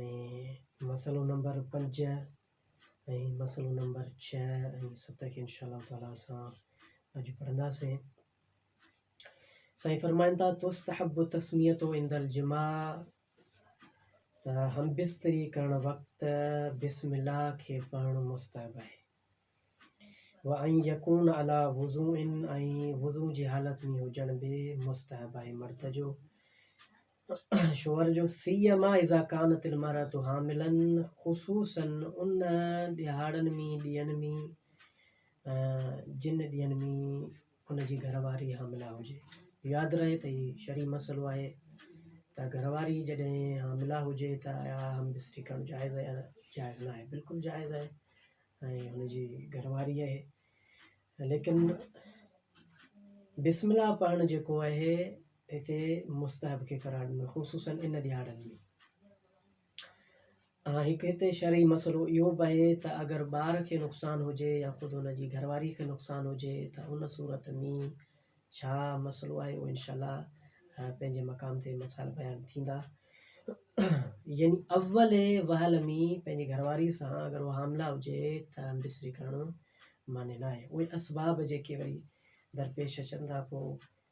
۽ مسئلو نمبر پنج ۽ مسئلو نمبر ڇهه ۽ ست کي انشاء الله تعالٰي اسان اڄ پڙهنداسين سائين فرمائن ٿا تستحب تسميتو عند الجماع ته هم بستري ڪرڻ وقت بسم الله کي پڙهڻ مستحب آهي وان يڪون عليٰ وضوء ۽ وضوء جي حالت ۾ هجڻ به مستحب آهي مرد جو شوهر جو سيما اذا ڪانت المرأة حاملا خصوصا ان ڏهاڙن ۾ ڏينهن ۾ جن ڏينهن ۾ ان جي گهر واري حامله هجي. ياد رهي ته هي شرعي مسئلو آهي ته گهر واري جڏهن حامله هجي ته آيا همبستري ڪرڻ جائز آهي يا جائز نه آهي. بلڪل جائز آهي ۽ هن جي گهر واري اهي ليڪن بسم الله پڙهڻ جيڪو اهي هتي مستحب کي قرار ڏنو خصوصن ان ڏهاڙن ۾. ها هڪ هتي شرعي مسئلو اهو به آهي ته اگر ٻار کي نقصان هجي يا خود هن جي گهر واري کي نقصان هجي ته ان صورت ۾ ڇا مسئلو آهي اهو انشاء الله پنهنجي مقام تي مسائل بيان ٿيندا يعني اول وهل ۾ پنهنجي گهر واري سان اگر اها حاملا هجي ته امبسري ڪرڻ معني نه آهي اهي اسباب جيڪي وري درپيش اچن ٿا پوء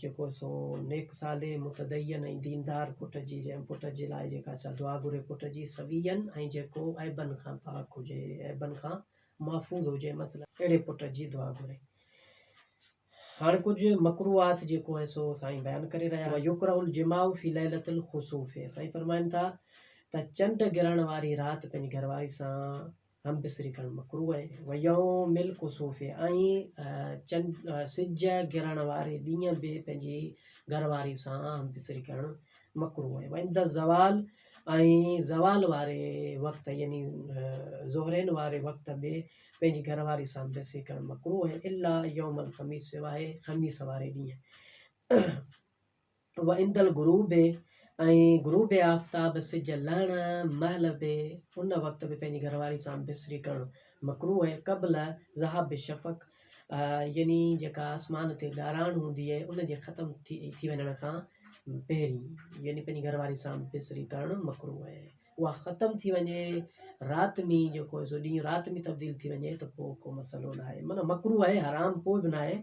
جيڪو سو نيڪ صالح متدين ۽ ديندار پٽ جي جنهن پٽ جي لاء جيڪا سا دعا گهري پٽ جي سوين ۽ جيڪو عيبن کان پاڪ هجي عيبن کان محفوظ هجي مثلا اهڙي پٽ جي دعا گهري هاڻ ڪجهه مڪروهات جيڪو هي سو سائين بيان ڪري رهيا آهن يڪره الجماع في ليلة الخسوف سائين فرمائن ٿا ته چنڊ گرهڻ واري رات پنهنجي گهرواري سان هم بسري ڪرڻ مڪروه آهي. ويوم الڪسوف ۽ چنڊ، سج، گرڻ واري ڏينهن به پنهنجي گهر واري سان هم بسري ڪرڻ مڪروه آهي. وعند الزوال ۽ زوال واري وقت يعني ظهرين واري وقت به پنهنجي گهر واري سان هم بسري ڪرڻ مڪروه آهي الا يوم الخميس سواء خميس واري ڏينهن. وعند الغروب ۽ غروب آفتاب، سج لهڻ، مهل به ان وقت به پنهنجي گهر واري سان بسري ڪرڻ مڪروه آهي قبل ذهاب الشفق يعني جيڪا آسمان تي ڳاراڻ هوندي آهي ان جي ختم ٿي وڃڻ کان پهرين يعني پنهنجي گهر واري سان بسري ڪرڻ مڪروه آهي اها ختم ٿي وڃي رات مي جيڪو سو ڏينهن رات مي تبديل ٿي وڃي ته پوء ڪو مسئلو نه آهي معنيٰ مڪرو آهي حرام ڪو به نه آهي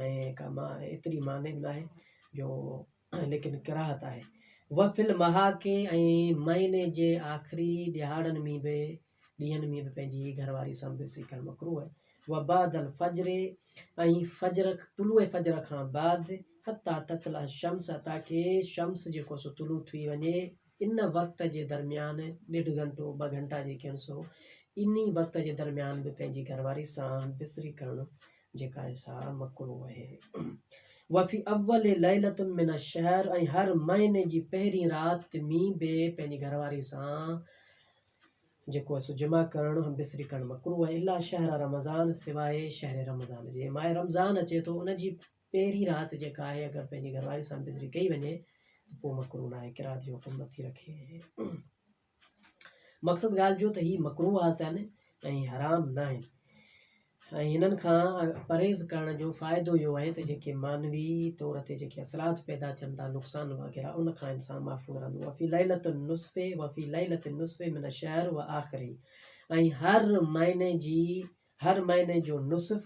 ۽ ڪا ما ايتري معني به نه آهي جو ليڪن ڪراهت آهي و في المحاڪي ۽ مهيني جي آخري ڏيهاڙن ۾ به ڏينهن ۾ به پنهنجي گهر واري سان به سي ڪرڻ مڪرو آهي و بعد الفجر ۽ فجر طلوع فجر کان بعد حتى تطلع الشمس تاڪي شمس جيڪو سو طلوع ٿي وڃي ان وقت جي درميان ڏيڍ گهنٽو ٻه گهنٽا جيڪي آهن سو انهي وقت جي درميان به پنهنجي گهر واري سان بستري ڪرڻ جيڪا آهي سا مڪروهه آهي. وفي اول ليلة من الشهر ۽ هر مهيني جي پهرين رات ۾ به پنهنجي گهر واري سان جيڪو آهي سو جماع ڪرڻ هم بستري ڪرڻ مڪروهه آهي الا شهر رمضان سواء شهر رمضان جي ماه رمضان اچي ٿو ان جي پهرين رات جيڪا آهي اگر پنهنجي گهر واري سان بزري ڪئي وڃي ته پوء مڪروه ناهي قرات جو حڪم نٿي رکي. مقصد ڳالهه جو ته هي مڪروهات آهن ۽ حرام ناهن ۽ هنن کان پرهيز ڪرڻ جو فائدو اهو آهي ته جيڪي معنوي طور تي جيڪي اثرات پيدا ٿين ٿا نقصان وغيره ان کان انسان محفوظ رهندو وفي ليلت النصف وفي ليلت النصف من الشهر واخره ۽ هر مهيني جي هر مهيني جو نصف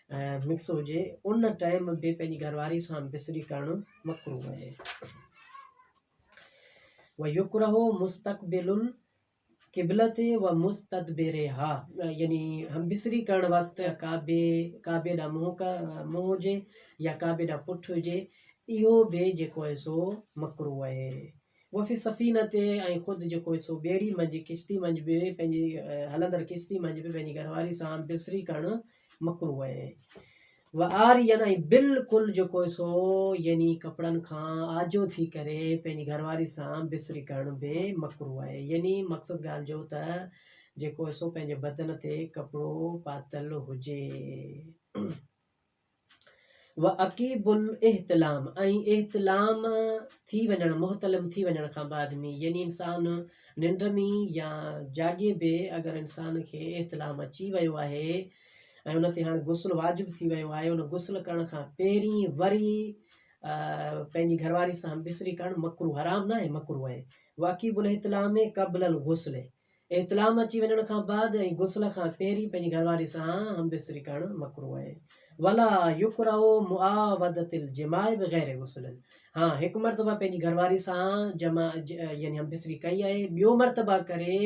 مڪس هجي ان ٽائيم به پنهنجي گهرواري سان بسري ڪرڻ مڪروه آهي ويڪرهو مستقبل قبلت و مستدبرها يعني هم بسري ڪرڻ وقت ڪعبي ڪعبي ڏا منهن ڪا منهن هجي يا ڪعبي ڏا پٺ هجي اهو به جيڪو آهي سو مڪروه آهي وفي السفينة تي ۽ خود جيڪو سو ٻيڙي منجهه، ڪشتي منجهه، به پنهنجي هلندڙ ڪشتي منجهه به پنهنجي گهر واري سان بسري ڪرڻ مڪروه اهي. وعاريا ۽ بلڪل جيڪو سو يعني ڪپڙن کان آجو ٿي ڪري پنهنجي گهر واري سان بسري ڪرڻ به مڪروه اهي يعني مقصد ڳالهه جو ته جيڪو سو پنهنجي بدن تي ڪپڙو پاتل هجي. وعقيب الاحتلام ۽ احتلام ٿي وڃڻ، محتلم ٿي وڃڻ، کان بعد ۾ يعني انسان ننڊ ۾ يا جاڳي به اگر انسان کي احتلام اچي ويو آهي ۽ ان تي هاڻ غسل واجب ٿي ويو آهي ان غسل ڪرڻ کان پهرين وري پنهنجي گهرواري سان همبستري ڪرڻ مڪروه حرام ناهي مڪروه آهي وعقيب الاحتلام قبل الغسل احتلام اچي وڃڻ کان بعد ۽ غسل کان پهرين پنهنجي گهر واري سان همبستري ڪرڻ مڪروه آهي. ولا يڪره معاودة الجماع بغير غسل ها هڪ مرتبه پنهنجي گهر واري سان جمع يعني همبستري ڪئي آهي ٻيو مرتبه ڪري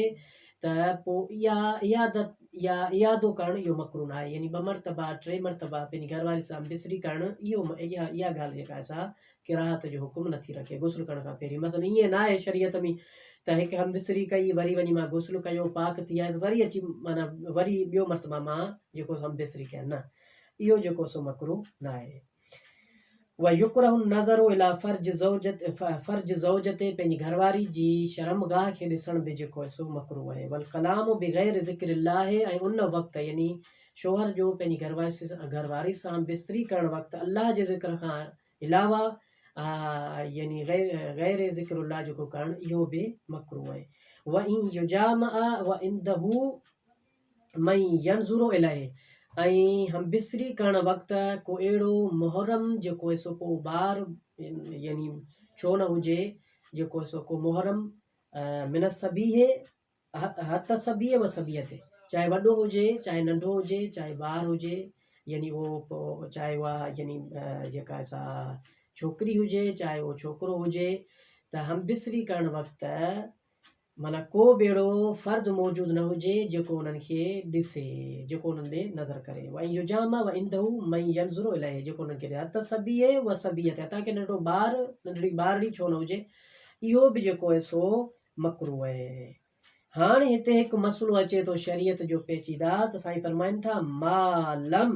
ته پوء اها عيادت يا اعادو ڪرڻ اهو مڪرو ناهي يعني ٻه مرتبه ٽي مرتبه پنهنجي گهر واري سان همبستري ڪرڻ اهو اها اها ڳالهه جيڪا سا قراءت جو حڪم نٿي رکي غسل ڪرڻ کان پهرين مثلا ائين ناهي شريعت ۾ ته هڪ هم بستري ڪئي وري وڃي مان غسل ڪيو پاڪ ٿي آيس وري اچي معنيٰ وري ٻيو مرتبه مان جيڪو هم بستري ڪيا نه اهو جيڪو سو مڪرو ناهي ويڪره النظر الى فرج زوجت فرج زوجت پنهنجي گهرواري جي شرمگاهه کي ڏسڻ به جيڪو سو مڪرو آهي والڪلام بغير ذڪر الله ۽ ان وقت يعني شوهر جو پنهنجي گهرواري گهرواري سان بستري ڪرڻ وقت الله جي ذڪر کان علاوه يعني غير ذڪر الله جيڪو ڪرڻ اهو به مڪروه آهي وان يجامع وعنده من ينظر اليه ۽ همبستري ڪرڻ وقت ڪو اهڙو محرم جيڪو سو ڪو ٻار يعني ڇو نه هجي جيڪو سو ڪو محرم من الصبيح هت سڀيء و سڀيء تي، چاهي وڏو هجي، چاهي ننڍو هجي، چاهي ٻار هجي، يعني اهو چاهي اها يعني جيڪا سا ڇوڪري هجي، چاهي اهو ڇوڪرو هجي، ته همبستري ڪرڻ وقت معنيٰ ڪو به اهڙو فرد موجود نه هجي جيڪو انهن کي ڏسي، جيڪو انهن ڏي نظر ڪري، وان يجامع و عنده من ينظر اليه، جيڪو انهن کي هت سڀيء و سڀيء تي، حتيٰ ڪي ننڍڙو ٻار، ننڍڙي ٻارڙي ڇو نه هجي، اهو به جيڪو آهي سو مڪروه اهي اهي هاڻ هتي هڪ مسئلو اچي ٿو شريعت جو پيچيده ته سائين فرمائن ٿا ما لم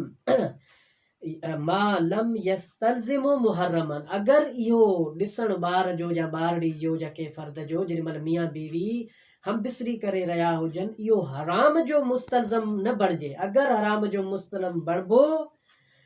ما لم يستلزم محرمن اگر اهو ڏسڻ ٻار جو يا ٻارڙي جو يا ڪنهن فرد جو جيڏي مهل ميان بيوي هم بستري ڪري رهيا هجن اهو حرام جو مستلزم نه بڻجي اگر حرام جو مستلزم بڻبو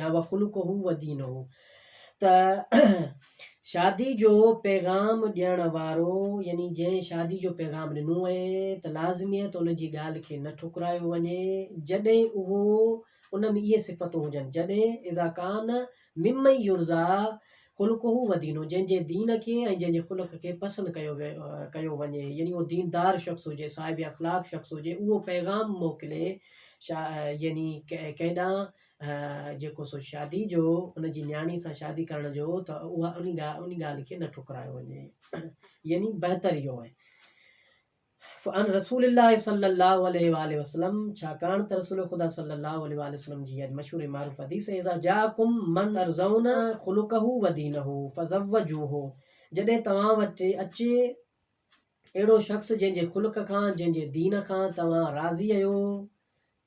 يا وخلقه ودينه ته شادي جو پيغام ڏيڻ وارو يعني جنهن شادي جو پيغام ڏنو آهي ته لازميت ان جي ڳالهه کي نه ٺڪرايو وڃي جڏهن اهو ان ۾ اهي صفتون هجن جڏهن اذا ڪان ممن يرضيٰ خلقه ودينه جنهن جي دين کي ۽ جنهن جي خلق کي پسند ڪيو ڪيو وڃي يعني اهو ديندار شخص هجي صاحب اخلاق شخص هجي اهو پيغام موڪلي يعني ڪيڏانهن جيڪو سو شادي جو ان جي نياڻي سان شادي ڪرڻ جو هو ته اها ان ڳالهه ان ڳالهه کي نه ٺڪرايو وڃي يعني بهتر اهو آهي فان رسول الله صلي الله عليه واله وسلم ڇاڪاڻ ته رسول خدا صلي الله عليه واله وسلم جي اڄ مشهور معروف حديث اذا جاءكم من ترزون خلقه ودينه فزوجوه جڏهن توهان وٽ اچي اهڙو شخص جنهن جي خلق کان جنهن جي دين کان توهان راضي آهيو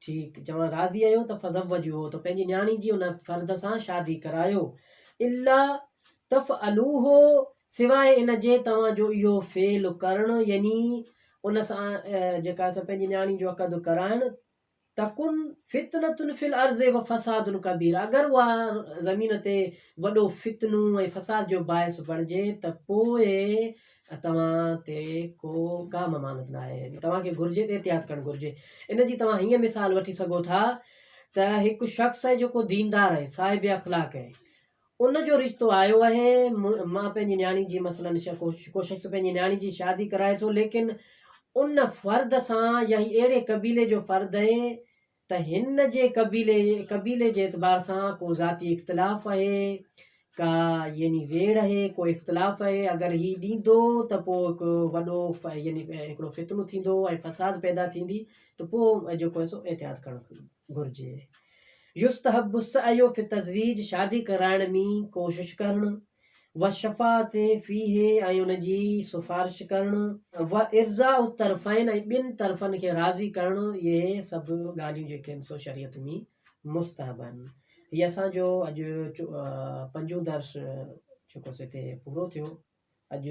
ٺيڪ، جوان راضي آهيو ته فزوجوهو ته پنهنجي نياڻي جي ان فرد سان شادي ڪرايو. الا تفعلوه سواء ان جي توهان جو اهو فعل ڪرڻ يعني ان سان جيڪا اسان پنهنجي نياڻي جو عقد ڪرائڻ تڪن فتنة في الارض وفساد ڪبير اگر اها زمين تي وڏو فتنو ۽ فساد جو باعث بڻجي ته پوء توهان تي ڪو ڪا ممانت ناهي. توهان کي گهرجي ته احتياط ڪرڻ گهرجي. ان جي توهان هيئن مثال وٺي سگهو ٿا ته هڪ شخص آهي جيڪو ديندار آهي، صاحب اخلاق آهي. ان جو رشتو آيو آهي، مان پنهنجي نياڻي جي مثلاً ڪو شخص پنهنجي نياڻي جي شادي ڪرائي ٿو ليڪن ان فرد سان يا هي اهڙي قبيلي جو فرد آهي ته هن جي قبيلي قبيلي جي اعتبار سان ڪو ذاتي اختلاف اهي، ڪا يعني ويڙهه اهي، ڪو اختلاف اهي، اگر هي ڏيندو ته پوء هڪ وڏو يعني هڪڙو فتنو ٿيندو ۽ فساد پيدا ٿيندي ته پوء جيڪو اهي سو احتياط ڪرڻ گهرجي. يستحب السعي في التزويج شادي ڪرائڻ ۾ ڪوشش ڪرڻ. والشفاعة فيه ۽ ان جي سفارش ڪرڻ. وارضاء الطرفين ۽ ٻن طرفن کي راضي ڪرڻ اهي سڀ ڳالهيون جيڪي آهن سو شريعت ۾ مستحب آهن. هي اسان جو اڄ پنجون درس جيڪو سو هتي پورو ٿيو. اڄ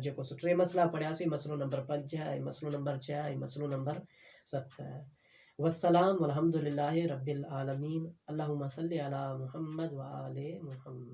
جيڪو سو ٽي مسئلا پڙهياسين مسئلو نمبر پنج ۽ مسئلو نمبر ڇهه ۽ مسئلو نمبر ست. والسلام والحمد لله رب العالمين اللهم صل علي محمد وآل محمد.